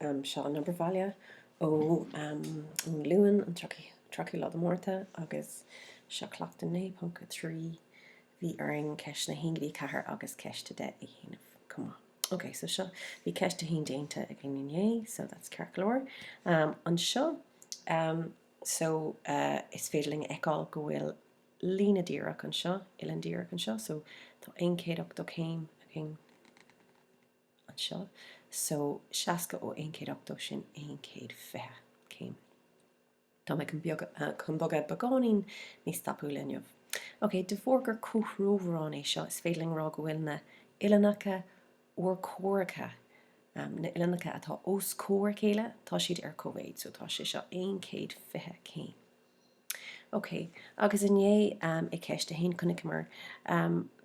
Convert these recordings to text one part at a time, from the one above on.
Seo an obair bhaile ón Luan an 30ú lá de Mhárta agus seo Cleachtadh 9.3. Bhí orainn ceisteanna a haon go dtí a ceathair agus ceist a deich a dhéanamh chomh maith. Ok so seo, bhí ceist a haon déanta againn inné so that's ceart go leor. Anseo so is féidir linn a fheiceáil go bhfuil líne díreach anseo, uillinn díreach anseo so tá 180 céim againn. anseo so 60 ó 1 180 sin 1 120 céim tá mé chun beag chun bogadh beagáinín níos tapúla inniu ok de bharr gur comhthreomharán é seo is féidir linn rá go bhfuil na uillinneacha urchomhaireacha um na uillinneacha atá os comhair a chéile tá siad ar cóimhéid so tá sé seo 1 120 céim. Ok, agus inné i gceist a haon chonaiceamar,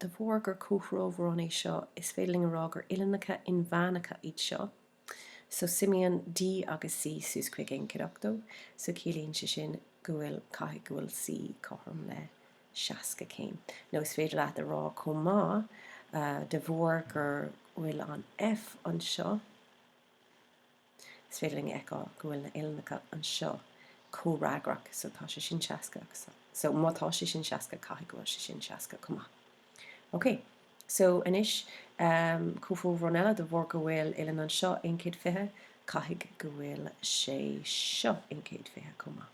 de bharr gur comhthreomharán é seo, is féidir linn a rá gur uillinneacha inmheánacha iad seo. So suimíonn D agus C suas chuig aon chéad ochtó, so ciallaíonn sé sin go bhfuil, caithfidh go bhfuil C cothrom le seasca céim. Nó is féidir leat a rá chomh maith, de bharr gur bhfuil an F anseo, Is féidir linn a fheiceáil go bhfuil na uillinneacha anseo comhfhreagrach, so tá sé sin 60 so má tá sé sin 60 caithfidh go bhfuil sé sin 60 chomh maith. Ok, so anois comhthreomharán eile de bharr go bhfuil uillinn anseo 1 120 caithfidh go bhfuil sé seo 1 120 chomh maith.